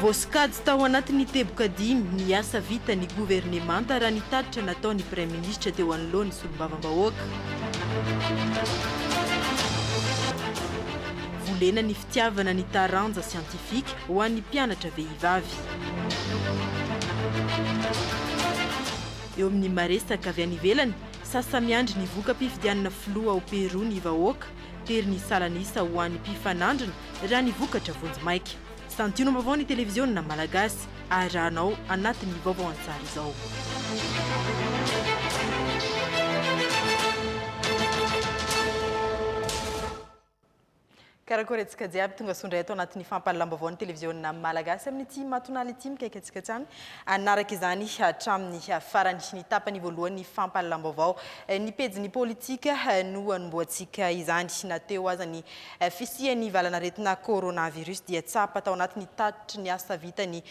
Voasokajy tao anatin'ny teboka dimy ny asa vitan'ny governemanta raha ny tatitra nataon'ny Praiminisitra teo anoloan'ny Solombavambahoaka. Tiavana ny taranja siantifika ho an'ny mpianatra vehivavy. Eo amin'ny maresaka avy any ivelany, sasa-miandry ny voka-pifidianana filoha ao Pérou ny vahoaka. Tery ny salan'isa ho an'ny mpifanandrina raha ny vokatra vonjimaika. Santionam-baovao ny televiziona malagasy. Arahanao anatin'ny vaovao an-tsary izao. Karakôry antsika jiaby tonga soa indray ato anatin'ny fampahalalam-baovao ny televiziôna Malagasy amin'ity matonala ity mikaiky antsika hatrany hanaraka izany hatramin'ny farany ny tapany voalohan'ny fampahalalam-baovao ny pejin'ny politika no anombohantsika izany na teo aza ny fisian'ny valan'aretina coronavirus dia tsapa tao anatin'ny tatitry ny asa vitany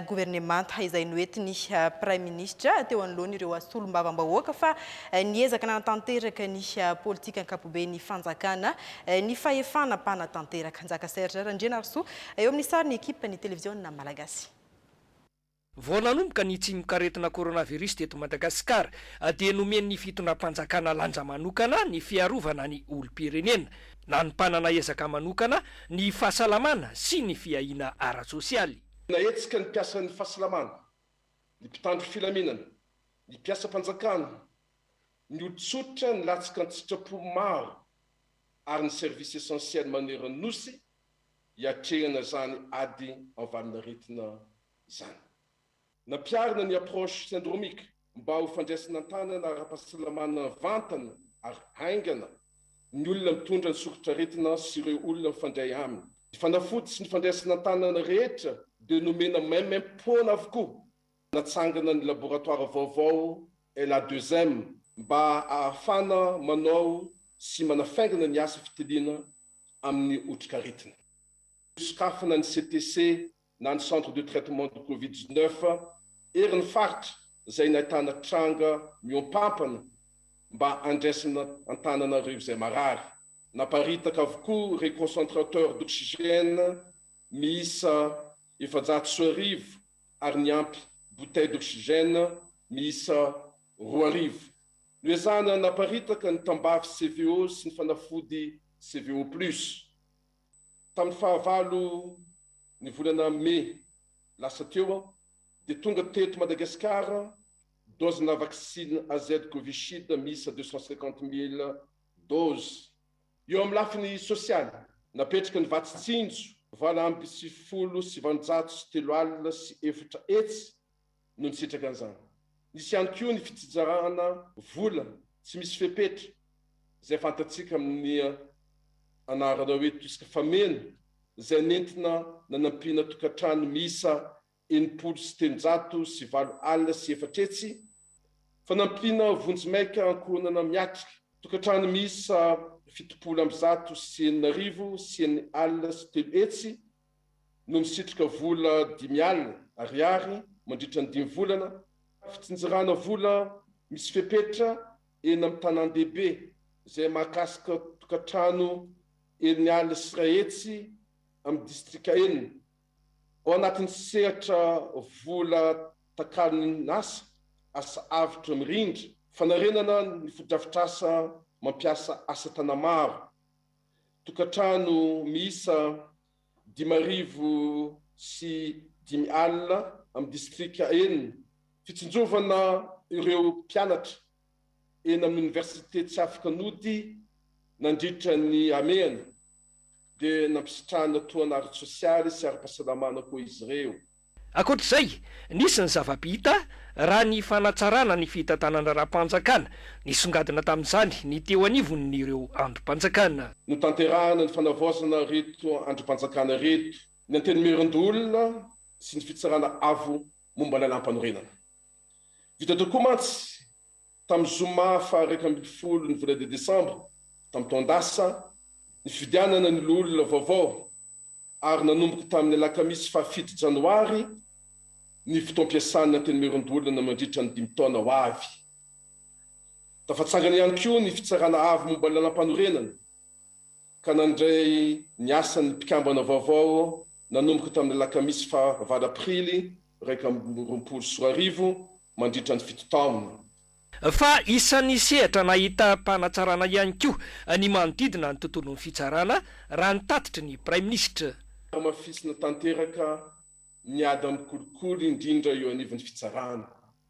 governemanta izay noentin'ny Praiminisitra teo anoloan'ireo solombavambahoaka fa niezaka nanatanteraka ny politika ankapoben'ny fanjakana ny fahefana mpanatanteraka. Njaka Serge Randrianarisoa eo amin'ny sarin'ny ekipan'ny televiziona malagasy. Vao nanomboka ny tsimokaretina coronavirus teto Madagasikara dia nomen'ny fitondram-panjakana lanja manokana ny fiarovana ny olom-pirenena, nanompanana ezaka manokana ny fahasalamana sy ny fiahiana ara-tsosialy. Nahetsika ny mpiasan'ny fahasalamana, ny mpitandro filaminana, ny mpiasam-panjakana, ny olon-tsotra nilatsaka an-tsitrapo maro ary ny service essentiel maneran'ny Nosy hiatrehana izany ady an-valinaretina izany. Nampiharina ny approche syndromique. mba ho fandraisana an-tanana ara-pahasalamana vantany ary haingana ny olona mitondra ny soritr'aretina sy ireo olona mifandray aminy. Ny fanafody sy ny fandraisana an-tanana rehetra dia nomena maimaim-poana avokoa. Natsangana ny laboratoara vaovao LA Deuxm mba ahafana manao sy manafaingana ny asa fitiliana amin'ny otrikaretina. Nosokafana ny CTC na ny Centre de Traitement du Covid dix neuf erin'ny faritra izay nahitana tranga mihoampampana mba handraisana an-tanana ireo izay marary. Naparitaka avokoa ireo concentrateurs d'oxygène miisa efajato sy arivo ary niampy bouteilles d'oxygène miisa roa arivo. Noezahana naparitaka ny tambavy CVO sy ny fanafody CVO plus. Tamin'ny fahavalo ny volana Mey lasa teo dia tonga teto Madagasikara dozina vaksiny AZ Covishield miisa deux cent cinquante mille doses. Eo amin'ny lafiny sosialy, napetraka ny vatsy tsinjo valo amby sivifolo sy sivanjato sy telo alina sy efatra hetsy no nisitraka an'izany. Nisy ihany koa ny fitsitsarana vola tsy misy fepetra izay fantatsika amin'ny anarana hoe Tusk Fameno izay nentina nanampiana tokantrano miisa enimpolo sy telonjato sy valo alina sy efatra hetsy, fanampiana vonjimaika ankohonana miatrika tokantrano miisa fitopolo amby zato sy enina arivo sy enina alina sy telo hetsy, no misitrika vola dimy alina ariary mandritra ny dimy volana, fitsinjerana vola misy fepetra eny amin'ny tanàn-dehibe izay mahakasika tokantrano eny alina sy iray hetsy amin'ny distrika enina, ao anatin'ny sehatra vola takalonin'asa, asa avotra mirindra, fanarenana ny fotodrafitrasa mampiasa asa tanamaro. Tokantrano miisa dimy arivo sy dimy alina amin'ny distrika enina, fitsinjovana ireo mpianatra eny amin'ny oniversite tsy afaka nody nandritra ny hamehana dia nampisitrahana tohana ara-tsosialy sy ara-pahasalamana koa izy ireo. Ankoatra izay, nisy ny zava-bita raha ny fanatsarana ny fitantanandraharaham-panjakana, nisongadina tamin'izany ny teo anivon'ireo andrim-panjakana. Notanterahina ny fanavaozana ireto andrim-panjakana ireto, ny Antenimierandoholona sy ny Fitsarana Avo momba Lalàmpanorenana. Vita tokoa mantsy tamin'ny zoma faha-iraika ambin'ny folo ny volana desambra tamin'ny taon-dasa, ny fifidianana ny loholona vaovao. ary nanomboka tamin'ny alakamisy fahafito janoary ny fotoam-piasan'ny Antenimierandoholona mandritra ny dimy taona ho avy. Tafatsangana ihany koa ny Fitsarana Avo momba ny Lalampanorenana ka nandray ny asany ny mpikambana vaovao nanomboka tamin'ny alakamisy fahavalo aprily iraika amby roapolo sy roa arivo mandritra ny fito taona. Fa isan'ny sehatra nahitam-panatsarana ihany koa ny manodidina ny tontolon'ny fitsarana, raha ny tatitry ny Praiminisitra. Hamafisina tanteraka ny ady amin'ny kolikoly, indrindra eo anivon'ny fitsarana.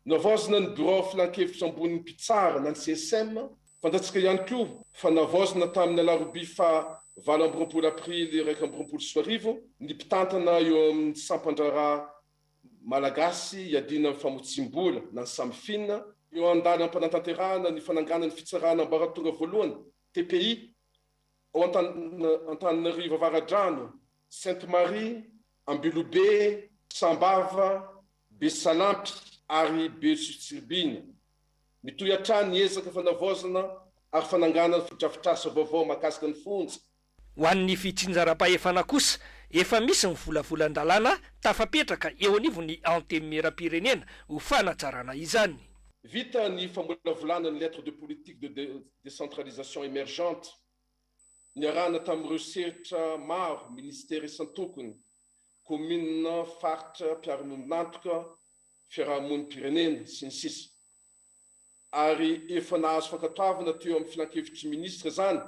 Navaozina ny Birao Filankevitry Ambonin'ny Mpitsara na ny CSM. Fantatsika ihany koa fa navaozina tamin'ny alarobia faha valo amby roapolo aprily iraika amby roapolo sy roa arivo ny mpitantana eo amin'ny sampan-draharaha Malagasy iadiana amin'ny famotsiam-bola na ny samifina, eo an-dalam-panatanterahana ny fananganana ny Fitsarana Ambaratonga Voalohany, TPI, ao Antananarivo Avaradrano, Sainte Marie, Ambilobe, Sambava, Besalampy ary Behotsitsiribihina. Mitohy hatrany ny ezaka fanavaozana ary fananganana fotodrafitrasa vaovao mahakasika ny fonja Ho an'ny fitsinjaram-pahefana kosa, efa misy ny volavolan-dalàna tafapetraka eo anivon'ny Antenimieram-pirenena ho fanatsarana izany. Vita ny famolavolana ny Lettre de politique de décentralisation émergente niarahana tamin'ireo sehtra maro, ministera isan-tokony, kaominina, faritra, mpiara-monina antoka, fiaraha-monim-pirenena, sy ny sisa. ary efa nahazo fankatoavana teo amin'ny Filankevitr'i Minisitra izany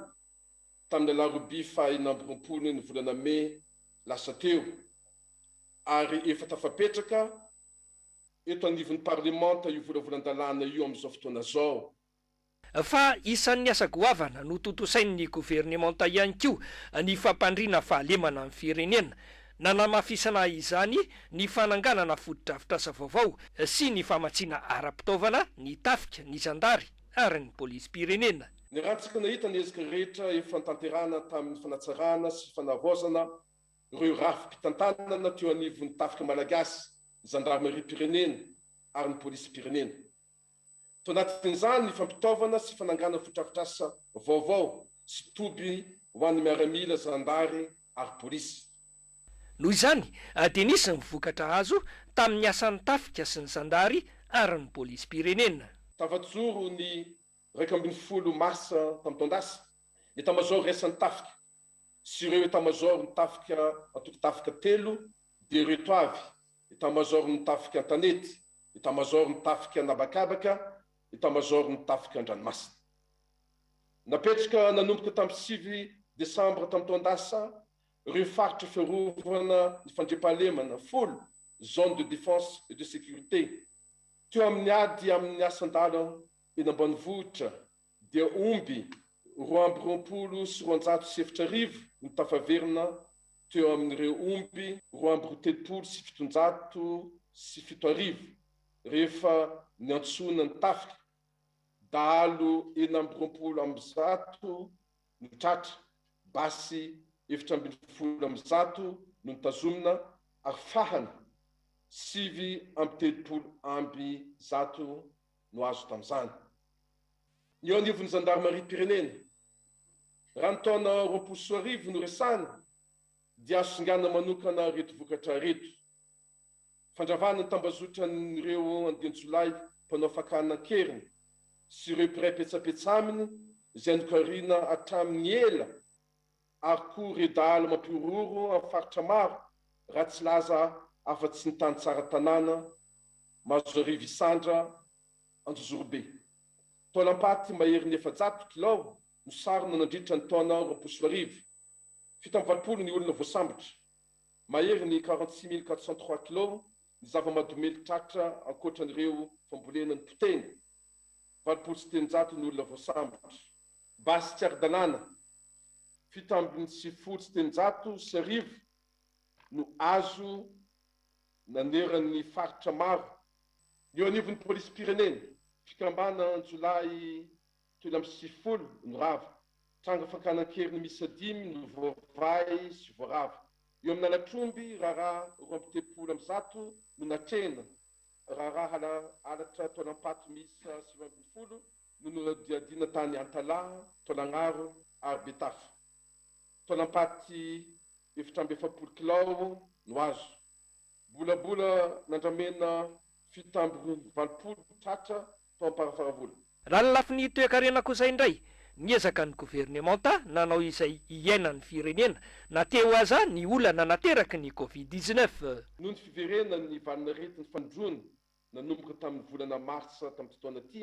tamin'ny alarobia faha enina amby roapolo ny volana mey lasa teo ary efa tafapetraka eto anivon'ny Parlemanta io volavolan-dalàna io amin'izao fotoana izao. Fa isan'ny asa goavana notontosain'ny Governemanta ihany koa ny fampandriana fahalemana ny firenena. Nanamafisana izany ny fananganana fotodrafitrasa vaovao sy ny famatsiana ara-pitaovana ny Tafika, ny Zandary ary ny Polisim-pirenena. Ny raha tsy kinahita ny ezaka rehetra efa notanterahana tamin'ny fanatsarana sy fanavaozana ireo rafi-pitantanana teo anivon'ny Tafika Malagasy, ny Zandarimariam-pirenena ary ny Polisim-pirenena. Tao anatin'izany ny fampitaovana sy fananganana fotodrafitrasa vaovao sy toby ho an'ny miaramila, zandary ary polisy. Noho izany dia nisy ny vokatra azo tamin'ny asan'ny tafika sy ny zandary ary ny polisim-pirenena. Tafajoron'ny iraika ambin'ny folo marsa tamin'ny taon-dasa, ny Etamazaoro Iraisan'ny Tafika sy ireo Etat-major ny tafika antoko tafika telo dia ireto avy, Etat-major ny tafika an-tanety, Etat-major ny tafika an'habakabaka, Etat-major ny tafika an-dranomasina. Napetraka nanomboka tamin'ny sivy Desambra tamin'ny taon-dasa ireo faritra fiarovana ny fandriampahalemana folo, Zones de défense et de sécurité, teo amin'ny ady amin'ny asan-dàlam eny ambanivohitra, dia omby roa amby roapolo sy roanjato sy efatra arivo no tafaverina teo amin'ireo omby roa amby roa telopolo sy fitonjato sy fito arivo rehefa niantsoana ny tafika. Dahalo enina amby roapolo amby zato no tratra, basy efatra ambin'ny folo amby zato no notazomina ary fahana sivy amby telopolo amby zato no azo tamin'izany. Ny eo anivon'ny zandarimariam-pirenena, raha ny taona roapolo sy roa arivo no resahana, dia azo singanina manokana ireto vokatra ireto, fandravana ny tambazotran'ireo andian-jiolahy mpanao fakana an-keriny sy ireo mpiray petsapetsa aminy izay nokariana hatramin'ny ela, ary koa redala mampihorohoro amin'ny faritra maro raha tsy laza afa-tsy ny tany tsara tanàna, Mahazoarivo Isandra, Anjozorobe. Taolam-paty maherin'ny efajato kilao no sarona nandritra ny taona roapolo sy roa arivo. Fito amby valopolo ny olona voasambotra. Mahery ny quarante six mille quatre cent trois kilao ny zava-mahadomelina tratra ankoatra an'ireo fambolena nipotehina. Valopolo sy telonjato ny olona voasambotra. Basy tsy ara-dalàna, fito ambin'ny sivifolo sy telonjato sy arivo no azo naneran'ny faritra maro ny eo anivon'ny polisim-pirenena. Fikambana an-jiolahy telo amby sivifolo no rava. Tranga fakana an-keriny miisa dimy no voavahy sy voarava. Eo amin'ny lalatr'omby, raharaha roa amby telopolo amby zato no natrehina. Raharaha halatra taolam-paty miisa sivy ambin'ny folo. no nohodiadina tany Antalaha, Taolagnaro ary Betafo. Taolam-paty efatra amby efapolo kilao no azo. Bolabola nandramena fito tamby valopolo tratra tao Amparafaravola. Raha ny lafiny toekarena kosa indray, niezaka ny governemanta nanao izay hiainan'ny firenena na te ho aza ny olana nateraky ny Covid dix-neuf. Noho ny fiverenan'ny valin'aretin'ny fandroana Nanomboka tamin'ny volana martsa tamin'ity taona ity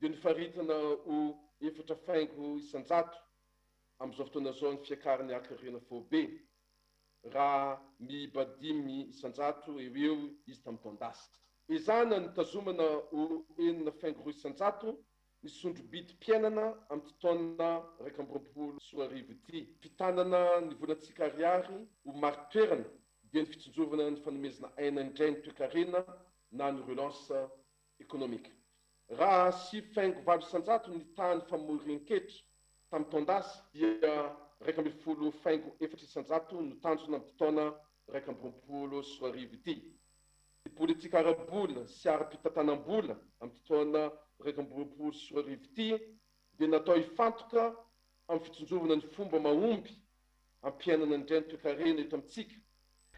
dia nofaritana ho efatra faingo isan-jato amin'izao fotoana izao ny fiakaran'ny hakarena foibe raha miiba dimy isan-jato eo eo izy tamin'ny taon-dasa. Ezahana ny hitazomana ho enina faingo roa isan-jato ny sondrobidim-piainana amin'ity taona iraika amby roapolo sy roa arivo ity. Fitanana ny volantsika ariary ho marin-toerana dia ny fitsinjovana ny fanomezana aina indray ny toekarena na ny relance ekonomika. Raha sivy faingo valo isan-jato ny tahan'ny famorin-ketra tamin'ny taon-dasa dia iraika ambin'ny folo faingo efatra isan-jato no tanjona amin'ity taona iraika amby roapolo sy roa arivo ity. Ny politika ara-bola sy ara-pitantanam-bola amin'ity taona iraika amby roapolo sy roa arivo ity dia natao hifantoka amin'ny fitsinjovana ny fomba mahomby hampiainana ny reny toekarena eto amintsika.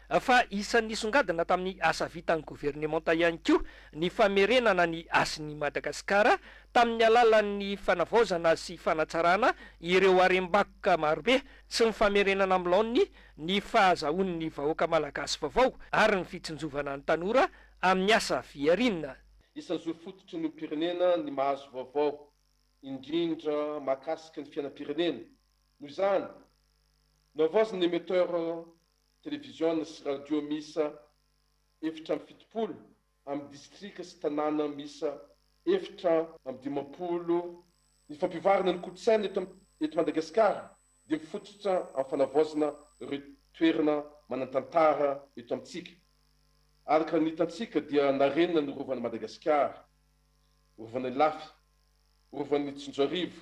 Fa isan'ny nisongadina tamin'ny asa vitan'ny governemanta ihany koa ny famerenana ny hasin'i Madagasikara tamin'ny alalan'ny fanavaozana sy fanatsarana ireo harem-bakoka marobe sy ny famerenana amin'ny laoniny ny fahazahoan'ny vahoaka malagasy vaovao ary ny fitsinjovana ny tanora amin'ny asa fihariana. Isan'ny zo fototry ny olom-pirenena ny mahazo vaovao, indrindra mahakasika ny fiainam-pirenena, Noho izany, nohavaozin'ny emetteur televiziona sy radio miisa efatra amby fitopolo amin'ny distrika sy tanàna miisa efatra amby dimampolo ny fampivoarana ny kolontsaina eto eto Madagasikara dia mifototra amin'ny fanavaozana ireo toerana manan-tantara eto amintsika. Araka ny hitantsika dia narenina ny Rovan'i Madagasikara, Rovan'Ilafy, Rovan'i Tsinjoarivo,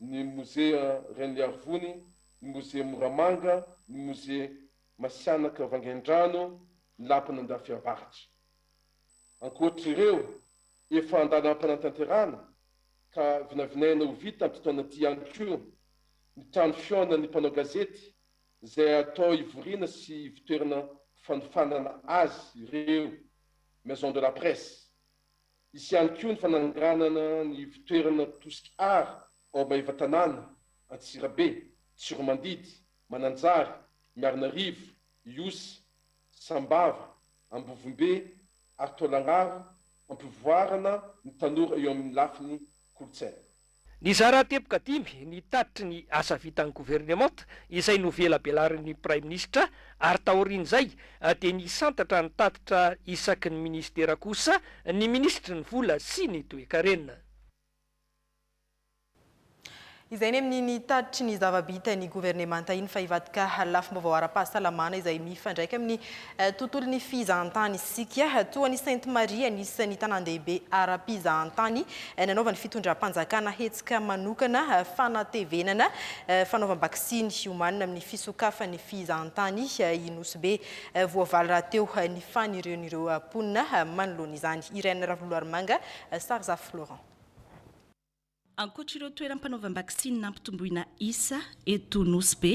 ny Mozea Reniarivony, ny Mozea Moramanga, ny Mozea Masianaka Vangaindrano, ny Lapan'Andafiavaratra. Ankoatr'ireo efa an-dalam-panatanterahana ka vinavinaina ho vita amin'ity taona ity ihany koa ny trano fihaonan'ny mpanao gazety izay atao hivoriana sy ivotoerana fanofanana azy ireo, Maison de la Presse. Hisy ihany koa ny fananganana ny ivontoerana Tosky Art ao Maevatanàna, Antsirabe, Tsiromandidy, Mananjary, Miarinarivo, Ihosy, Sambava, Ambovombe ary Taolagnaro hampivoarana ny tanora eo amin'ny lafiny kolontsaina. Nizara teboka dimy ny tatitry ny asa vitan'ny governemanta izay novelabelarin'ny Praiminisitra ary taorian'izay dia nisantatra ny tatitra isaky ny minisitera kosa ny minisitry ny Vola sy ny Toekarena. Izay ny amin'iny tatitry ny zava-bitan'ny governemanta iny fa hivadika lafim-baovao ara-pahasalamana izay mifandraika amin'ny Tontolon'ny fizahantany isika. Toa an'i Sainte Marie, anisan'ny tanàn-dehibe ara-pizahantany nanaovan'ny fitondram-panjakana hetsika manokana fanatevenana fanaovam-baksiny homanina amin'ny fisokafan'ny fizahantany i Nosy Be. Voavaly rahateo ny fanirian'ireo mponina manoloana izany. Irène Ravoloarimanga, Sarzafy Florent. Ankoatra ireo toeram-panaovam-baksiny nampitomboina isa eto Nosy Be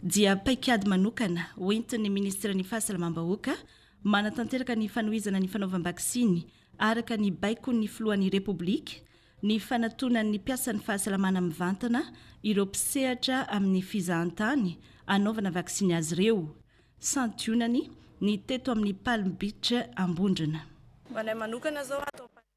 dia paikady manokana ho entin'ny Minisiteran'ny Fahasalamam-bahoaka manatanteraka ny fanohizana ny fanaovam-baksiny araka ny baikon'ny Filohan'ny Repoblika ny fanatonan'ny mpiasan'ny fahasalamana mivantana ireo mpisehatra amin'ny fizahantany anaovana vaksiny azy ireo santionany ny teto amin'ny Palm Beach Ambondrona. Ho anay manokana izao ato Ampanimarosoa.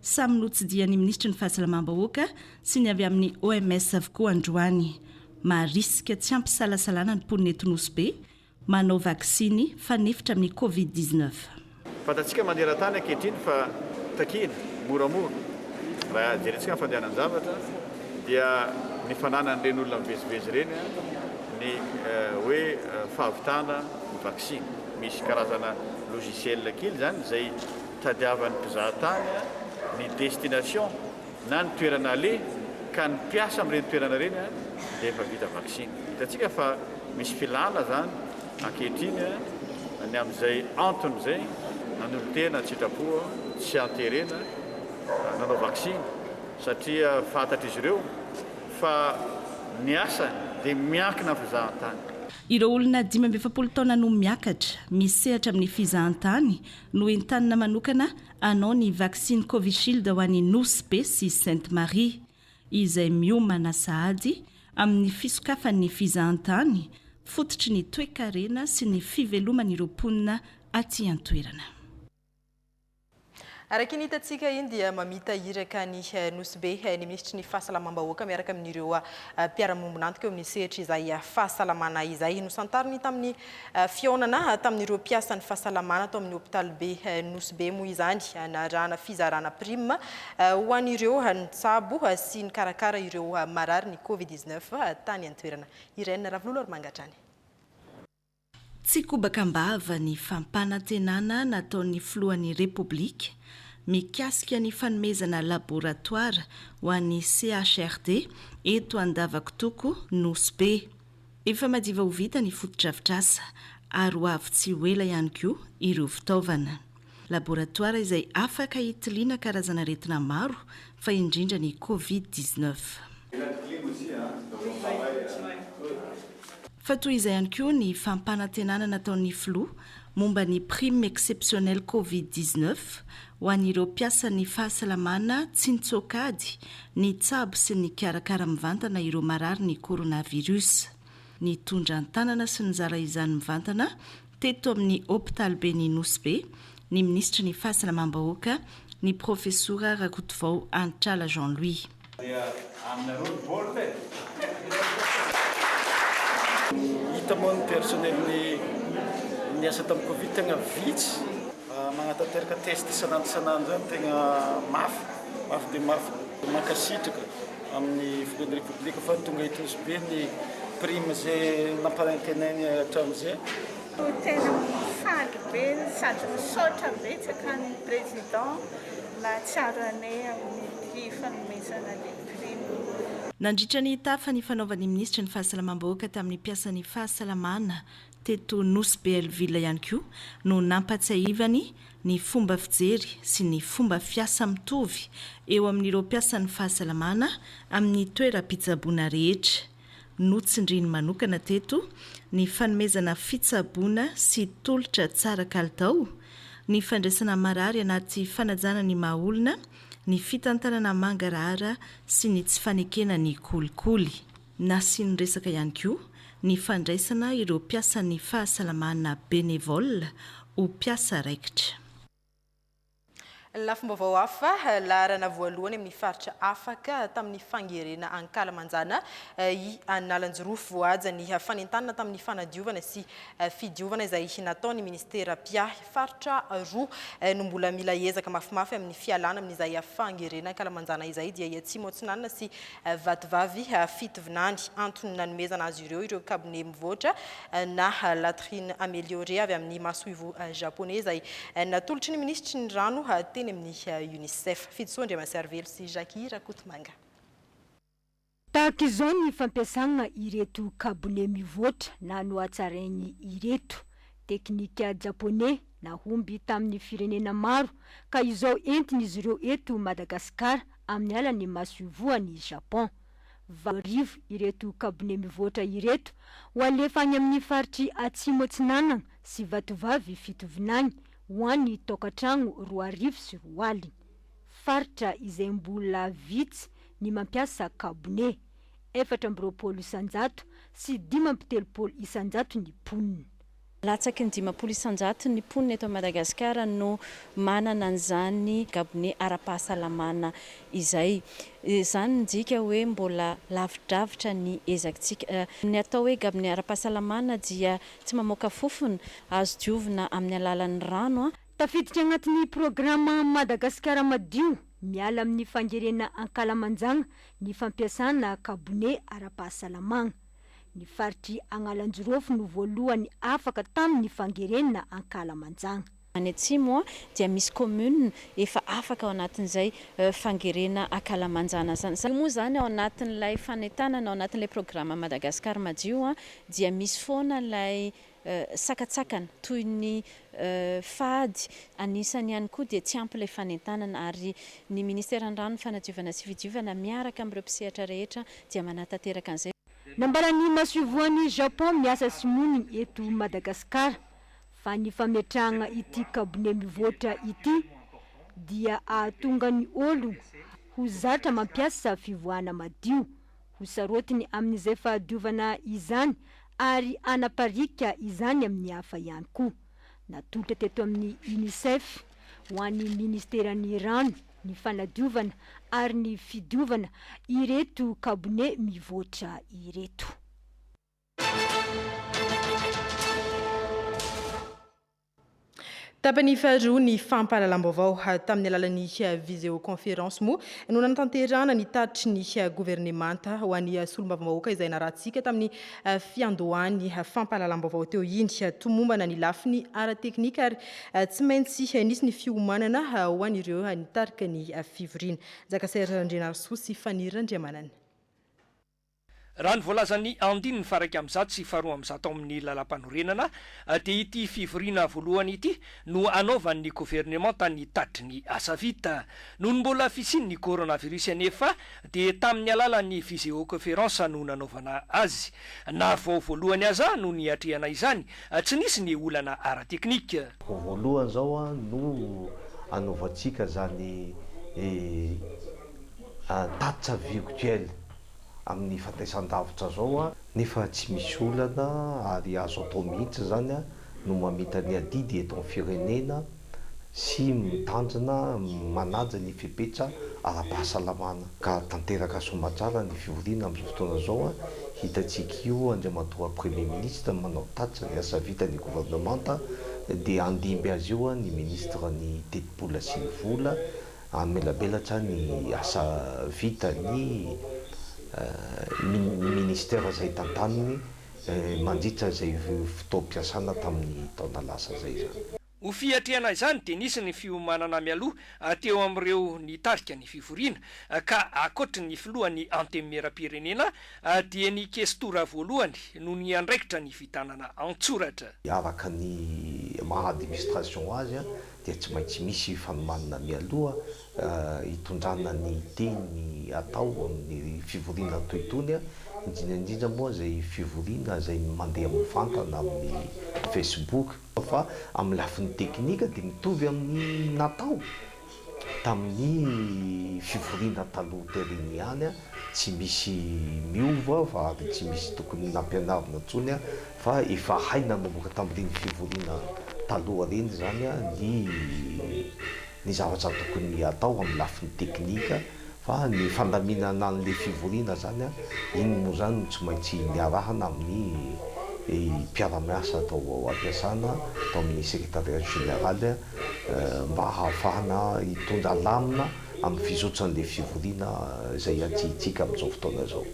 Samy notsidihan'ny minisitry ny Fahasalamam-bahoaka sy ny avy amin'ny OMS avokoa androany. Maharisika tsy hampisalasalana ny mponina eto Nosy Be manao vaksiny fanefitra amin'ny Covid dix-neuf. Fantatsika maneran-tany ankehitriny fa takina moramora, raha jerentsika ny fandehanan-javatra, dia ny fananan'ireny olona mivezivezy ireny ny hoe fahavitana ny vaksiny. Misy karazana logiciel kely izany izay. Tadiavan'ny mpizahatany ny destination na ny toerana aleha ka ny mpiasa amin'ireny toerana ireny dia efa vita vaksiny. Hitantsika fa misy filàna izany ankehitriny ny amin'izay antony izay nanolo-tena an-tsitrapo sy an-terena nanao vaksiny satria fantatr'izy ireo fa ny asany dia miankina amin'ny fizahantany. Ireo olona dimy amby efapolo taona no miakatra, misehatra amin'ny fizahantany no entanina manokana hanao ny vaksiny Covishield ho any Nosy Be sy Sainte Marie, izay miomana sahady amin'ny fisokafan'ny fizahantany fototry ny toekarena sy ny fiveloman'ireo mponina aty an-toerana. Araka ny hitantsika eny dia mamita iraka any Nosy Be ny minisitry ny Fahasalamam-bahoaka miaraka amin'ireo mpiara-miombon'antoka eo amin'ny sehatry izay fahasalamana izay. Nosantariny tamin'ny Fihaonana tamin'ireo mpiasan'ny fahasalamana tao amin'ny hopitalibe Nosy Be moa izany narahana fizarana prime ho an'ireo nitsabo sy nikarakara ireo marary ny Covid dix neuf tany an-toerana. Irène Ravololoarmanga hatrany. Tsy kobaka am-bava ny fampanantenana nataon'ny filohan'ny Repoblika mikasika ny fanomezana laboratoara ho an'ny CHRD eto Andavakotoko Nosy Be. Efa madiva ho vita ny fotodrafitrasa ary ho avy tsy ho ela ihany koa ireo fitaovana. Laboratoara izay afaka hitiliana karazan'aretina maro fa indrindra ny Covid dix neuf. Fa toy izay ihany koa ny fampanantenana nataon'ny filoha momba ny prime exceptionnelle Covid dix neuf ho an'ireo mpiasan'ny fahasalamana tsy nitsoaka ady nitsabo sy nikarakara mivantana ireo marary ny coronavirus. Nitondra an-tanana sy nizara izany mivantana teto amin'ny hopitaliben'i Nosy Be ny minisitry ny Fahasalamam-bahoaka, ny profesora Rakotovao Antrala Jean Louis. Dia aminareo ny baolina e! Hita moa ny personnel ny niasa tamin'ny covid tegna vitsy. Magnatanteraka test isan'andro isan'andro zany tegna mafy, mafy dia mafy. Mankasitraka amin'ny filohan'ny Repoblika fa tonga hitosy be ny prime izay nampanantenainy hatramin'izay. Tena faly be sady misaotra betsaka an'i Président. Mahatsiaro anay amin'ny fanomezana ny prime. Nandritra ny tafa nifanaovan'ny minisitry ny Fahasalamam-bahoaka tamin'ny mpiasan'ny fahasalamana teto Nosy be Alville ihany koa no nampahatsiahivany ny fomba fijery sy ny fomba fiasa mitovy eo amin'ireo mpiasan'ny fahasalamana amin'ny toeram-pitsaboana rehetra Notsindriany manokana teto ny fanomezana fitsaboana sy tolotra tsara kalitao, ny fandraisana marary anaty fanajana ny maha olona, ny fitantanana mangarahara sy ny tsy fanekena ny kolikoly. Nasiany resaka ihany koa ny fandraisana ireo mpiasan'ny fahasalamana bénévoles ho mpiasa raikitra. Lafim-baovao hafa, Laharana voalohany amin'ny faritra afaka tamin'ny fangerena ankalamanjana i Analanjirofo voahaja ny fanentanana tamin'ny fanadiovana sy fidiovana izay nataon'ny ministera mpiahy. Faritra roa no mbola mila ezaka mafimafy amin'ny fialana amin'izay fangerena ankalamanjana izay dia i Atsimo Atsinanana sy Vatovavy fito vinany. Antony nanomezana azy ireo ireo kabone mivoatra na latrines améliorées avy amin'ny masoivoho Japoney izay natolotry ny minisitry ny rano teny amin'ny Unicef. Fidisoa Andriamansiarivelo sy Jackie Rakotomanga. Tahaka izao ny fampiasagna ireto kabone mivoatra na nohatsaraigny ireto. Teknika Japoney nahomby tamin'ny firenena maro ka izao entigny izy ireo eto Madagasikara amin'ny alalan'ny masoivohon'i Japon. Valo arivo ireto kabone mivoatra ireto ho alefa any amin'ny faritr'i Atsimo Atsinanana sy Vatovavy Fitovinany ho an'ny taokan-tragno roa arivo sy roa aligny. Faritra izay mbola vitsy ny mampiasa kabone. Efatra amby roapolo isan-jato sy dimy amby telopolo isan-jato ny mponina. Latsaky ny dimampolo isanjaton' ny mponina eto Madagasikara no manana an'izany gabone ara-pahasalamana izay. Izany midika hoe mbola lavidravitra ny ezakitsika. Ny atao hoe gabone ara-pahasalamana dia tsy mamoaka fofona, azo diovina amin'ny alalan'ny rano. Tafiditra agnatin'ny programa Madagasikara Madio miala amin'ny fangerena ankalamanjagna ny fampiasana gabone ara-pahasalamagna. Ny faritr'i Agnalajirofo no voalohany afaka tamin'ny fangerenana ankalamanjagna. Any atsimo dia misy commune efa afaka ao anatin'izay fangerena ankalamanjana zany. Io moa zany ao anatin'ilay fanentanana, ao anatin'ilay programa Madagascar madio dia misy foana ilay sakantsakana toy ny fady. Anisany ihany koa dia tsy ampy ilay fanentanana ary ny Ministeran'ny Rano, ny Fanadiovana sy Fidiovana miaraka amin'ireo mpisehatra rehetra dia manatanteraka an'izay. Nambaran'ny masoivohon'i Japon miasa sy monina eto Madagasikara fa ny fametrahana ity kabone mivoatra ity dia ahatonga ny olona ho zatra mampiasa fivoahana madio Ho sarotiny amin'izay fahadiovana izany ary hanapariaka izany amin'ny hafa ihany koa. Natolotra teto amin'ny Unicef, ho an'ny Ministeran'ny Rano, ny Fanadiovana ary ny Fidiovana ireto kabone mivoatra ireto. Tapany faharoa ny fampahalalam-baovao. Tamin'ny alalan'ny viseoconférence moa no nanatanterahana ny tatitry ny governemanta ho an'ny solombavambahoaka izay narahantsika tamin'ny fiandohan'ny fampahalalam-baovao teo iny. Tomombana ny lafiny ara-teknika ary tsy maintsy nisy ny fiomanana ho an'ireo nitarika ny fivoriana. Njakasera Randrianarisoa sy Faniry Randriamanana. Raha ny voalazan'ny andininy faha-iraika amby zato sy faharoa amby zato ao amin'ny Lalàmpanorenana dia ity fivoriana voalohany ity no hanaovan'ny governemanta ny tatitry ny asa vita. Nony mbola fisian'ny coronavirus anefa dia tamin'ny alalan'ny viseocoference no nanaovana azy. Na vao voalohany aza no niatrehana izany, tsy nisy ny olana ara-teknika. Vao voalohany izao no hanaovantsika izany. tatitra virtuel amin'ny fantaisan-davitra zao nefa tsy misy olana ary azo atao mihitsy zany no mamita ny adidy eto amin'ny firenena sy mitandrina manaja ny fepetra ara-pahasalamana ka tanteraka soamatsara ny fivoriana amin'izao fotoana zao hitantsika io Andriamatoa Premier Ministre manao tatitra ny asa vitan'ny Gouvernementa dia handimby azy io ny Ministre ny tetibola sy ny vola Hamelabelatra ny asa vitan'ny Minisitera izay tantaniny mandritra izay fotoam-piasana tamin'ny taona lasa izay izany. Ho fiatrehana izany dia nisy ny fiomanana mialoha teo amin'ireo nitarika ny fivoriana ka ankoatry ny filohan'ny Antenimierampirenena, Dieny Ikesitora voalohany no niandraikitra ny fitanana an-tsoratra. Araka ny maha administration azy dia tsy maintsy misy fanomanana mialoha hitondrana ny teny atao amin'ny fivoriana toy itony, indrindra indrindra moa izay fivoriana izay mandeha mivantana amin'ny Facebook, fa amin'ny lafiny teknika dia mitovy amin'ny natao. tamin'ny fivoriana taloha tery ihany, tsy misy miova fa ary tsy misy tokony nampianarina intsony fa efa hay nanomboka tamin'ireny fivoriana taloha ireny izany ny ny zavatra tokony hatao amin'ny lafiny teknika Fa ny fandaminana an'le fivoriana zany iny moa zany no tsy maintsy niarahana amin'ny mpiara-miasa tao am-piasana tao amin'ny secretariat général mba hahafahana hitondra lamina amin'ny fizotran'le fivoriana izay iantsihintsika amin'izao fotoana izao.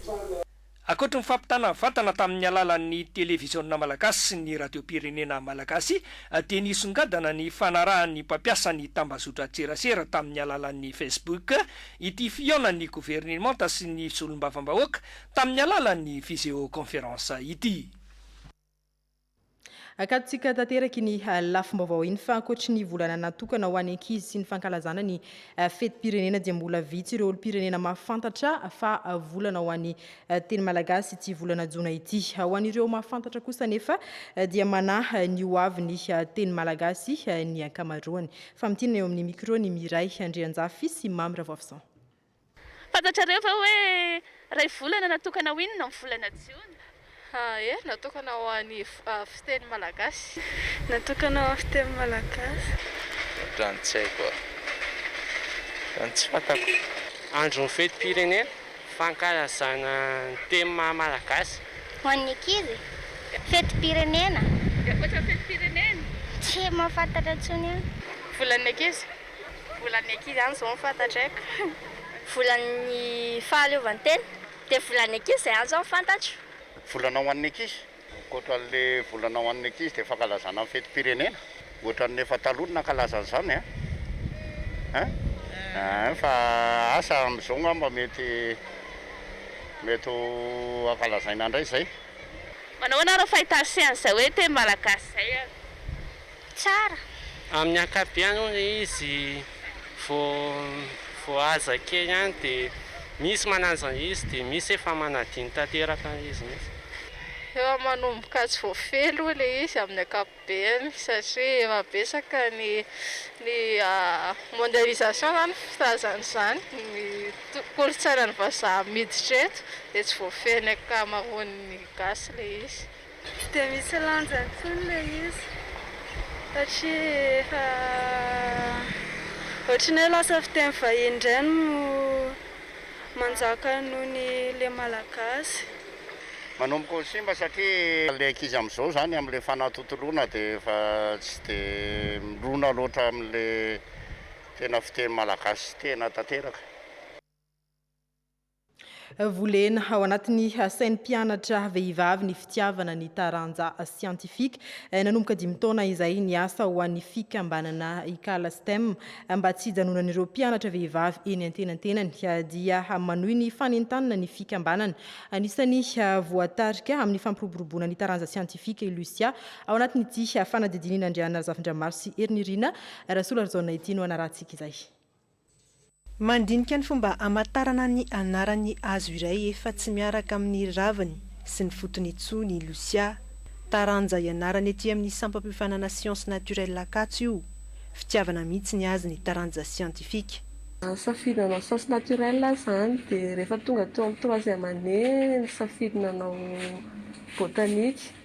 Ankoatry ny fampitana vantana tamin'ny alalan'ny televiziona malagasy sy ny radiom-pirenena malagasy dia nisongadina ny fanarahan'ny mpampiasa ny tambazotran-tserasera tamin'ny alalan'ny Facebook ity fihaonan'ny governemanta sy ny solombavambahoaka tamin'ny alalan'ny viseoconférence ity. Akatontsika tanteraka iny lafim-baovao iny fa ankoatry ny volana natokana ho an'ny ankizy sy ny fankalazana ny fetim-pirenena dia mbola vitsy ireo olom-pirenena mahafantatra fa volana ho an'ny teny malagasy ity volana jona ity. Ho an'ireo mahafantatra kosa anefa dia manahy ny ho avy ny teny malagasy ny ankamaroany. Famintinana eo amin'ny mikro ny Miray Andrianjafy sy Mamy Ravoafison. Fantatrareo ve hoe iray volana natokana ho inona ny volana jiona? A, Ee, natokana ho an'ny fiteny malagasy. Natokana ho an'ny fiteny malagasy. Raha ny tsy haiko a. Raha ny tsy fantako. Andron'ny fetim-pirenena fankalazana ny teny maha malagasy. Ho an'ny ankizy? Fetim-pirenena. Dia ankoatra ny fetim-pirenena? Tsy mahafantatra intsony aho. Volan'ny ankizy? Volan'ny ankizy ihany izao no fantatro haiko. Volan'ny fahaleovantena. Dia volan'ny ankizy izay ihany izao no fantatro. Volana ho an'ny ankizy. Ankoatran'ilay volana ho an'ny ankizy dia fankalazana ny fetim-pirenena. Ohatran'ny efa taloha no nankalaza an'izany an! An! Fa asa amin'izao angamba mety mety ho ankalazaina indray izay. Manahoana ary ny fahitàn'i Sy an'izay hoe teny malagasy izay an! tsara. Amin'ny ankapobeny hono ilay izy vao vao aza kely ihany dia misy manaja izy dia misy efa manadino tanteraka ilay izy mihitsy. Efa manomboka tsy voafehy aloha ilay izy amin'ny ankapobeny satria efa betsaka ny ny mondialisation zany ny filazana izany ny kolontsainan'ny vazaha miditra eto dia tsy voafehin'ny ankamaroan'ny gasy ilay izy. Tsy dia misy lanja intsony ilay izy satria efa ohatran'ny hoe lasa fiteny vahiny indray no manjaka noho ny le malagasy. Manomboka ho simba satria ilay ankizy amin'izao izany amin'ilay fanatontoloana dia efa tsy dia mirona loatra amin'ilay tena fiteny malagasy tena tanteraka. Volena ao anatin'ny sain'ny mpianatra vehivavy ny fitiavana ny taranja siantifika. Nanomboka dimy taona izay ny asa ho an'ny fikambanana Ikala STEM. Mba tsy hijanonan'ireo mpianatra vehivavy eny antenantenany dia manohy ny fanentanana ny fikambanana. Anisan'ny voatarika amin'ny fampiroboroboana ny taranja siantifika i Lucia ao anatin'ity fanadidin'Inandriana Razafindramaso sy Herinirina Rasolarijaona ity no hanarahantsika izay. Mandinika ny fomba hamantarana ny anaran'ny hazo iray efa tsy miaraka amin'ny raviny sy ny fotony intsony i Lucia. Taranja ianarana ety amin'ny sampam-piofanana Sciences Naturelles Ankatso io. Fitiavana mihitsy ny azy ny taranja siantifika. Safidy nanao Sciences Naturelles aho izany dia rehefa tonga teo amin'ny troisième année nisafidy nanao Botanique.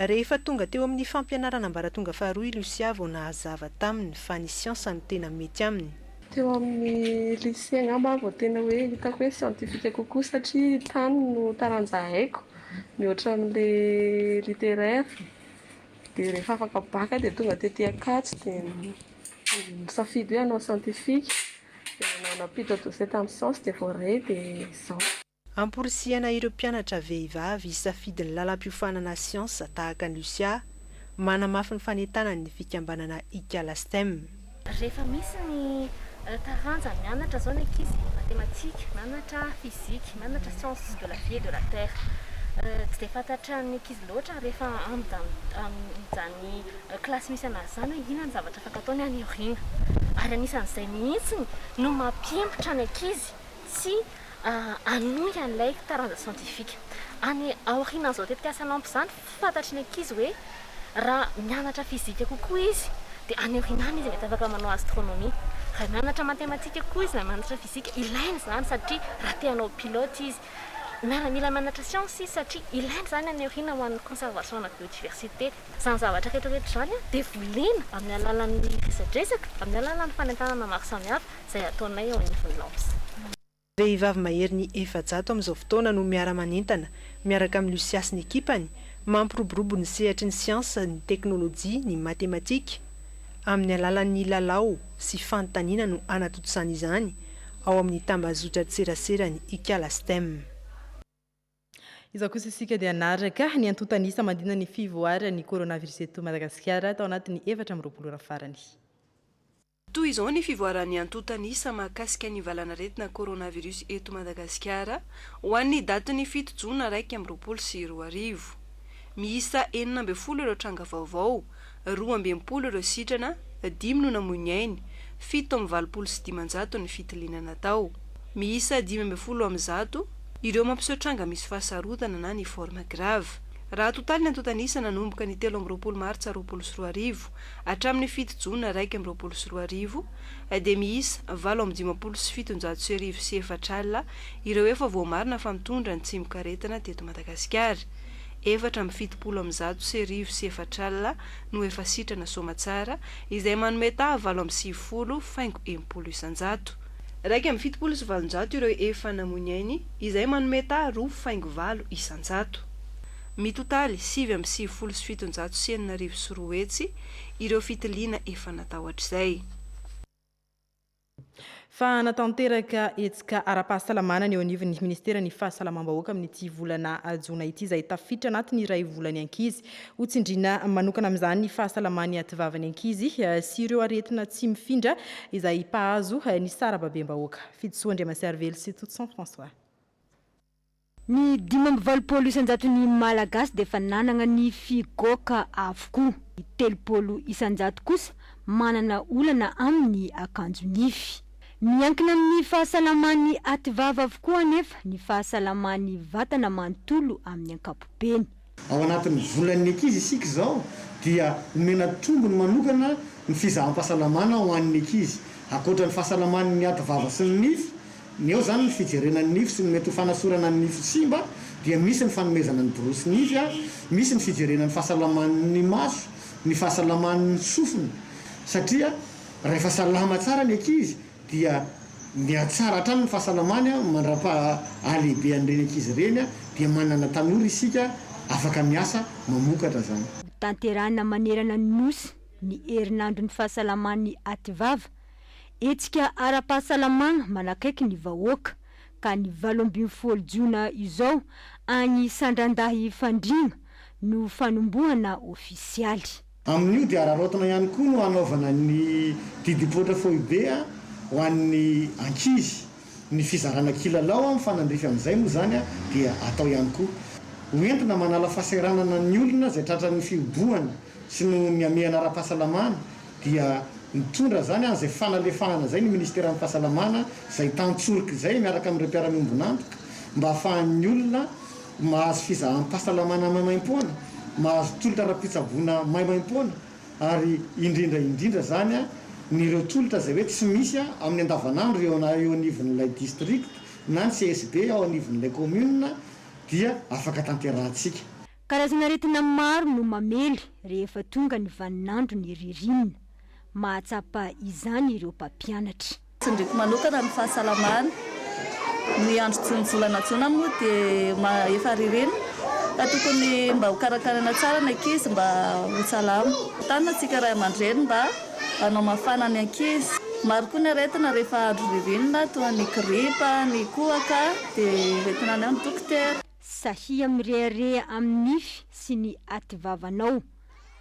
Rehefa tonga teo amin'ny fampianarana ambaratonga faharoa i Lucia vao nahazava taminy fa ny siansa no tena mety aminy. Teo amin'ny lycée angamba vao tena hoe hitako hoe siantifika kokoa satria tany no taranja haiko mihoatra an'ilay littéraire. Dia rehefa afaka bac dia tonga tety Ankatso dia nisafidy hoe hanao siantifika. Dia nanao pito doce tamin'ny science dia voaray dia izao. Amporisihana ireo mpianatra vehivavy hisafidy ny lalam-piofanana siansa tahaka an'i Lucia, manamafy ny fanentanany ny fikambanana Ikala Stem. Rehefa misy ny taranja mianatra izao ny ankizy, matematika, mianatra fizika, mianatra sciences de la vie et de la terre. Tsy dia fantatran'ny ankizy loatra rehefa amin'izany kilasy misy an'azy izany hoe inona ny zavatra afaka ataony any aoriana. Ary anisan'izay mihitsy no mampihemotra ny ankizy. tsy hanohy an'ilay taranja siantifika. Any aorianan'izao tetikasa NAMP izany, fantatry ny ankizy hoe raha mianatra fizika kokoa izy dia any aoriana any izy mety afaka manao astronomie. Raha mianatra matematika kokoa izy na mianatra fizika, ilaina izany satria raha te hanao pilote izy. Mila mianatra siansa izy satria ilaina izany any aoriana ho an'ny conservation-na biodiversité. Izany zavatra rehetrarehetra izany dia volena amin'ny alalan'ny resadresaka, amin'ny alalan'ny fanentanana maro samihafa izay ataonay eo anivon'ny LAMS. Vehivavy maherin'ny efajato amin'izao fotoana no miara-manentana miaraka amin'i Lucia sy ny ekipany, mampiroborobo ny sehatry ny siansa, ny teknolojia, ny matematika. Amin'ny alalan'ny lalao sy fanontaniana no anatontosany izany, ao amin'ny tambazotran-tseraseran'i Ikala Stem. Izao kosa isika dia hanaraka ny antontan'isa mandina ny fivoaran'ny coronavirus eto Madagasikara tao anatin'ny efatra amby roapolo ora farany. Toy izao ny fivoaran'ny antontan'isa mahakasika ny valan'aretina coronavirus eto Madagasikara ho an'ny datin'ny fito jona iraika amby roapolo sy roa arivo. Miisa enina ambin'ny folo ireo tranga vaovao, roa amby enimpolo ireo sitrana, dimy no namoy ny ainy, fito amin'ny valopolo sy dimanjato ny fitiliana natao. Miisa dimy ambin'ny folo amin'ny zato ireo mampiseho tranga misy fahasarotana na ny forme grave. Raha atotaly ny antontan'isa nanomboka ny telo amby roapolo martsa roapolo sy roa arivo hatramin'ny fito jona iraika amby roapolo sy roa arivo dia miisa valo amby dimampolo sy fitonjato sy arivo sy efatra alina ireo efa voamarina fa mitondra ny tsimokaretina teto Madagasikara. efatra amby fitopolo amby zato sy arivo sy efatra alina no efa sitrana soamatsara, izay manome taha valo amby sivifolo faingo enimpolo isan-jato. Iraika amby fitopolo sy valonjato ireo efa namoy ny ainy, izay manome taha roa faingo valo isan-jato. Mitotaly sivy amby sivifolo sy fitonjato sy enina arivo sy roa hetsy ireo fitiliana efa natao hatrizay. Fa hanatanteraka hetsika ara-pahasalamana ny eo anivon'ny Ministeran'ny Fahasalamam-bahoaka amin'ity volana jona ity izay tafiditra anatin'ny iray volan'ny ankizy. Ho tsindriana manokana amin'izany ny fahasalaman'ny ativavan'ny ankizy sy ireo aretina tsy mifindra izay mpahazo ny sarababem-bahoaka. Fidisoa Andriamasiarivelo sy Totoson François. Ny dimy amby valopolo isan-jaton'ny Malagasy dia efa nanana ny figoaka avokoa. Ny telopolo isan-jato kosa manana olana amin'ny akanjo nify. Miankina amin'ny fahasalaman'ny ativava avokoa anefa ny fahasalaman'ny vatana manontolo amin'ny ankapobeny. Ao anatin'ny volan'ny ankizy isika izao dia omena tombony manokana ny fizaham-pahasalamana ho an'ny ankizy. Ankoatra ny fahasalaman'ny aty vava sy ny nify, ny eo izany ny fijerena ny nify sy ny mety ho fanasorana ny nify simba dia misy ny fanomezana ny borosy nify, misy ny fijerena ny fahasalaman'ny maso, ny fahasalaman'ny sofina satria rahefa salama tsara ny ankizy dia mihatsara hatrany ny fahasalamany mandra-paha halehibehan'ireny ankizy ireny dia manana tanora isika afaka miasa mamokatra izany. Hotanterahina manerana ny Nosy ny herinandron'ny fahasalaman'ny Ativava. Hetsika ara-pahasalamana manakaiky ny vahoaka, ka ny valo ambin'ny folo jona izao any Sandrandahy Fandriana no fanombohana ofisialy. Amin'io dia araraotina ihany koa no hanaovana ny didim-poitra foibe ho an'ny ankizy. Ny fizarana kilalao mifanandrify amin'izay moa izany dia atao ihany koa. Ho entina manala fahasahiranana ny olona izay tratran'ny fihobohana sy noho ny hamehana ara-pahasalamana dia nitondra izany an'izay fanalefahana izay ny Ministeran'ny Fahasalamana izay tan-tsorika izay miaraka amin'ireo mpiara-miombon'antoka mba hahafahan'ny olona mahazo fizaham-pahasalamana maimaimpoana, mahazo tolotra ara-pitsaboana maimaimpoana, ary indrindra indrindra izany ny ireo tolotra izay hoe tsy misy amin'ny andavanandro eo eo anivon'ilay district na ny CSB ao anivon'ilay commune dia afaka tanterahantsika. Karazana aretina maro no mamely rehefa tonga ny vaninandron'ny ririnina. Mahatsapa izany ireo mpampianatra. Tsindriko manokana ny fahasalamana. Ny andro jonijolana jona moa dia efa ririnina ka tokony mba ho karakaraina tsara ny ankizy mba ho salama. Tanjona tsika ray aman-dreny mba hanao mafana ny ankizy. Maro koa ny aretina rehefa andro ririnina toa ny gripa, ny kohaka dia hoentina any amin'ny dokotera. Sahia mirehareha amin'ny nify sy ny ativavanao.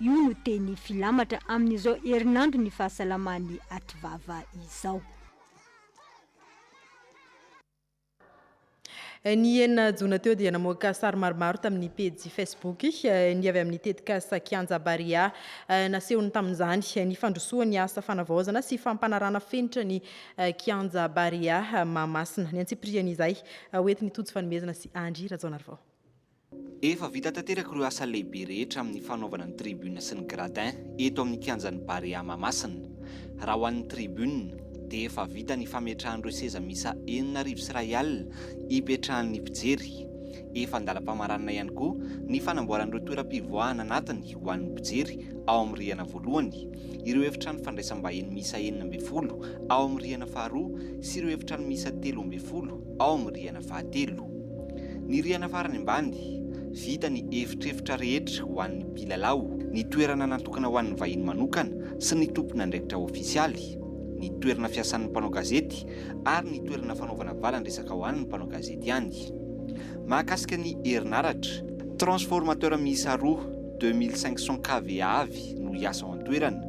Io no teny filamatra amin'izao herinandron'ny fahasalaman'i Ativava izao. Ny enina jona teo dia namoaka sary maromaro tamin'ny pejy Facebook ny avy amin'ny tetikasa Kianja Barea. Nasehony tamin'izany ny fandrosoan'ny asa fanavaozana sy fampanarana fenitra ny Kianja Barea Mahamasina. Ny antsipiriany izay hoentin'i Tojo Fanomezana sy Andry Rajaonarivao. Efa vita tanteraka ireo asa lehibe rehetra amin'ny fanaovana ny tribune sy ny gradin eto amin'ny kianjan'ny Barea Mahamasina. Raha ho an'ny tribune dia efa vita ny fametrahan'ireo seza miisa enina arivo sy iray alina ipetrahan'ny mpijery. Efa an-dalam-pamaranana ihany koa ny fanamboaran'ireo toeram-pivoahana anatiny ho an'ny mpijery ao amin'ny rihana voalohany, ireo efitrano fandraisam-bahiny miisa enina ambin'ny folo ao amin'ny rihana faharoa sy ireo efitrano miisa telo ambin'ny folo ao amin'ny rihana fahatelo. Ny rihana farany ambany, vita ny efitrefitra rehetra ho an'ny mpilalao, ny toerana natokana ho an'ny vahiny manokana sy ny tompon'andraikitra ofisialy, ny toerana fiasan'ny mpanao gazety ary ny toerana fanaovana valan-dresaka ho an'ny mpanao gazety ihany. Mahakasika ny herinaratra, transformateur miisa roa, deux mille cinq cents KV avy no hiasa ao an-toerana.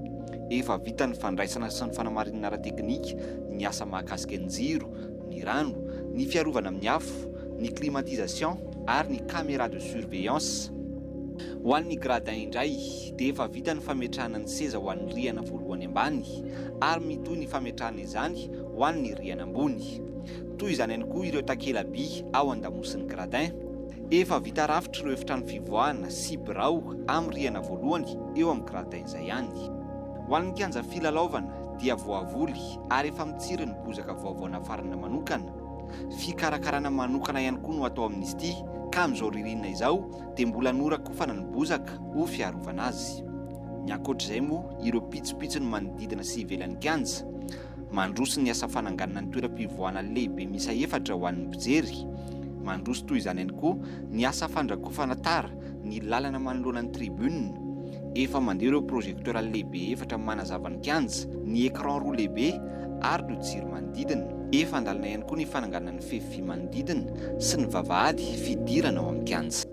Efa vita ny fandraisana sy ny fanamarinana ara-teknika, ny asa mahakasika ny jiro, ny rano, ny fiarovana amin'ny afo, ny climatisation ary ny caméra de surveillance. Ho an'ny gradins indray dia efa vita ny fametrahana ny seza ho an'ny rihana voalohany ambany ary mitohy ny fametrahana izany ho an'ny rihana ambony. Toy izany ihany koa ireo takela-by ao an-damosin'ny gradin. Efa vita rafitra ireo efitrano fivoahana sy birao amin'ny rihana voalohany eo amin'ny gradins izay ihany. Ho an'ny kianja filalaovana dia voavoly ary efa mitsiry ny bozaka vaovao nafarana manokana. Fikarakarana manokana ihany koa no atao amin'izy ity ka amin'izao ririnina izao dia mbola norakofana ny bozaka ho fiarovana azy. Ny ankoatr'izay moa ireo pitsopitsony manodidina sy ivelan'ny kianja, mandroso ny asa fananganana ny toeram-pivoahana lehibe miisa efatra ho an'ny mpijery. Mandroso toy izany ihany koa ny asa fandrakofana tara ny lalana manoloana ny tribune, efa mandeha ireo projecteur lehibe efatra manazava ny kianja, ny écran roa lehibe ary ireo jiro manodidina. Efa an-dalana ihany koa ny fananganana ny fefy vy manodidina sy ny vavahady fidirana ao amin'ny kianja.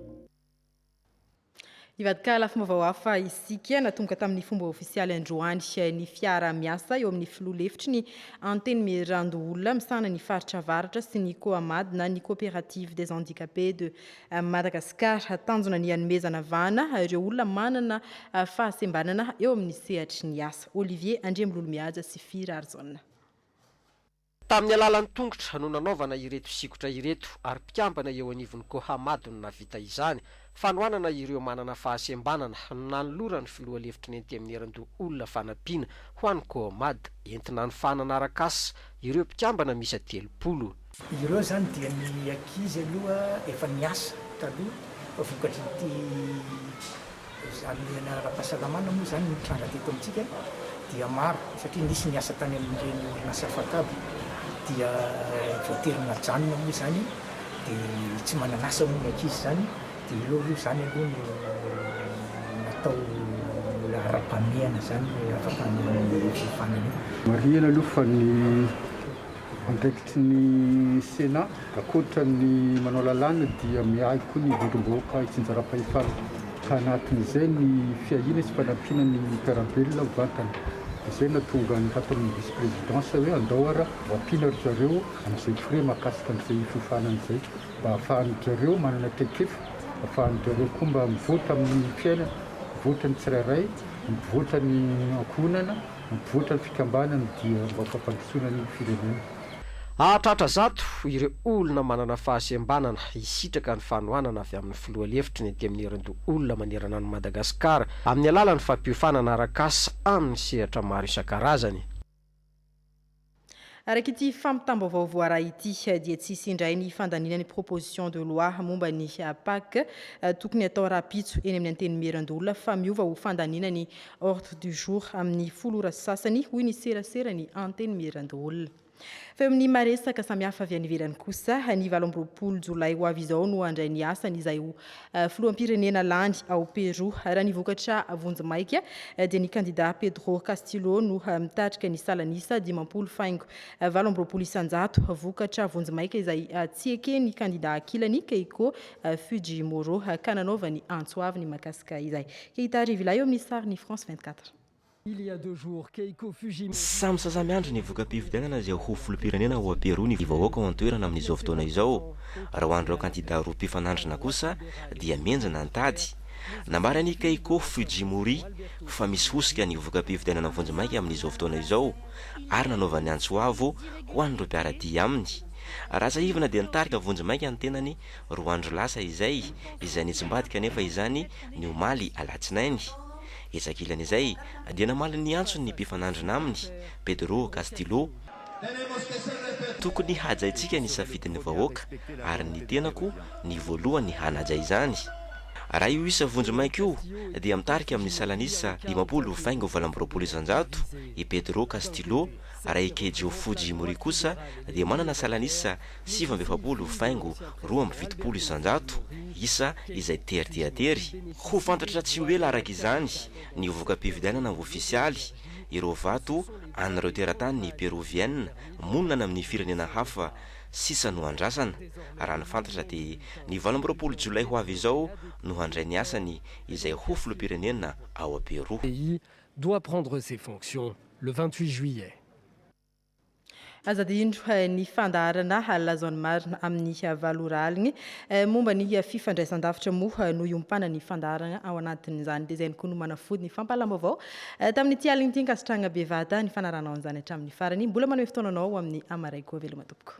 Hivadika lafim-baovao hafa isika. Natomboka tamin'ny fomba ofisialy androany ny fiara-miasa eo amin'ny filoha lefitry ny Antenimierandoholona misahana ny faritra Avaratra sy ny Coamad na ny Coopérative des handicapés de Amin'i Madagasikara, tanjona ny hanomezana vahana ireo olona manana fahasembanana eo amin'ny sehatry ny asa. Olivier Andriamilolomihaja sy Fy Rarijaona. Tamin'ny alalan'ny tongotra no nanaovana ireto sikotra ireto ary mpikambana eo anivon'ny Cohamado no nahavita izany. Fanohanana ireo manana fahasembanana no nanoloran'ny filoha lefitry ny Antenimierandoha olona fanampiana ho an'ny Cohamad entina hanofanana arak'asa ireo mpikambana miisa telopolo. Ireo izany dia ny ankizy aloha efa niasa taloha vokatr'ity hamelana ara-pahasalamana moa izany nitranga teto amintsika dia maro satria nisy niasa tany amin'ireny orinasa fatabo dia voatery najanona moa izany dia tsy manan'asa moa ny ankizy izany dia eo aloha izany aloha no natao laharam-pahamehana izany ny laharam-pahamehana ny fanamihana. Marihina aloha fa ny Andraikitry ny Sena, ankoatra ny manao lalàna dia miahy koa ny vondrom-bahoaka hitsinjaram-pahefana, ka anatin'izay ny fiahiana sy fanampiana ny mpiara-belona mivantana. Izay no nahatonga ny hataon'ny Vice Présidence hoe andao ara ho ampiana ry zareo amin'izay frais mahakasika an'izay fiofanana izay mba hahafahan'ny zareo manana traikefa, hahafahan'ny zareo koa mba mivoatra amin'ny fiainana, mivoatra ny tsirairay, mivoatra ny ankohonana. Mivoatra ny fikambanana dia mba fampandrosoana ny firenena. Hahatratra zato ireo olona manana fahasembanana hisitraka ny fanohanana avy amin'ny filoha lefitry ny Antenimierandoholona manerana an'i Madagasikara amin'ny alalan'ny fampiofanana arak'asa amin'ny sehatra maro isan-karazany. Araka ity fampitam-baovao voaray ity dia tsy hisy indray ny fandaniana ny proposition de loi momba ny PAC tokony atao rahampitso eny amin'ny Antenimierandoholona fa miova ho fandaniana ny ordre du jour amin'ny folo ora sasany hoy ny seraseran'ny Antenimierandoholona. Fa eo amin'ny maresaka samihafa avy any ivelany kosa, ny valo amby roapolo jolay ho avy izao no handray ny asany izay ho Filoham-pirenena lany ao Peroa. Raha ny vokatra vonjimaika dia ny kandidà Pedro Castillo no mitarika ny salan'isa dimampolo faingo valo amby roapolo isan-jato, vokatra vonjimaika izay tsy eken'ny kandidà ankilany Keiko Fujimoro ka nanaovany antso avo ny Makasika izay. Keita Arivila eo amin'ny sarin'ny France 24. Samy saza miandry ny voka-pifidianana izay ho filoham-pirenena ao Perou ny vahoaka ao an-toerana amin'izao fotoana izao. Raha ho an'ireo kandida roa mpifanandrina kosa dia mihenjana ny tady. Nambaran'i Keiko Fujimori fa misy hosoka ny voka-pifidianana vonjimaika amin'izao fotoana izao ary nanaovany antso avo ho an'ireo mpiara-dia aminy. Raha tsiahivina dia nitarika vonjimaika ny tenany roa andro lasa izay, izay nitsimbadika anefa izany ny omaly alatsinainy. Etsy ankilany izay dia namaly ny antsony ny mpifanandrina aminy, Pedro Castillo, Tokony hajaintsika ny safidin'ny vahoaka ary ny tenako ny voalohany hanaja izany. Raha io isa vonjimaika io dia mitarika amin'ny salan'isa dimampolo faingo valo amby roapolo isanjato i Pedro Castillo, raha i Keijo Fujimori kosa dia manana salan'isa sivy amby efapolo faingo roa amby fitopolo isan-jato isa izay tery dia tery. Ho fantatra tsy ho ela araka izany ny voka-pifidianana ofisialy, ireo vato an'ireo teratany Perovienne monina any amin'ny firenena hafa sisa no andrasana. Raha ny fantatra dia ny valo amby roapolo jolay ho avy izao no handray ny asany izay ho filoham-pirenena ao Pero. pays doit prendre ses fonctions le vingt-huit juillet. Aza adino ny fandaharana Lazao ny marina amin'ny valo ora aligny. Momba ny fifandraisan-davitra moa no iompanan'ny fandaharana ao anatin'izany. Dia izay ihany koa no manafody ny fampahalam-baovao tamin'ity aligny ity. Ankasitrahagna bevata ny fanaranao an'izany hatramin'ny farany. Mbola manome fotoana anao ho amin'ny Amaraiko. Veloma tompoko.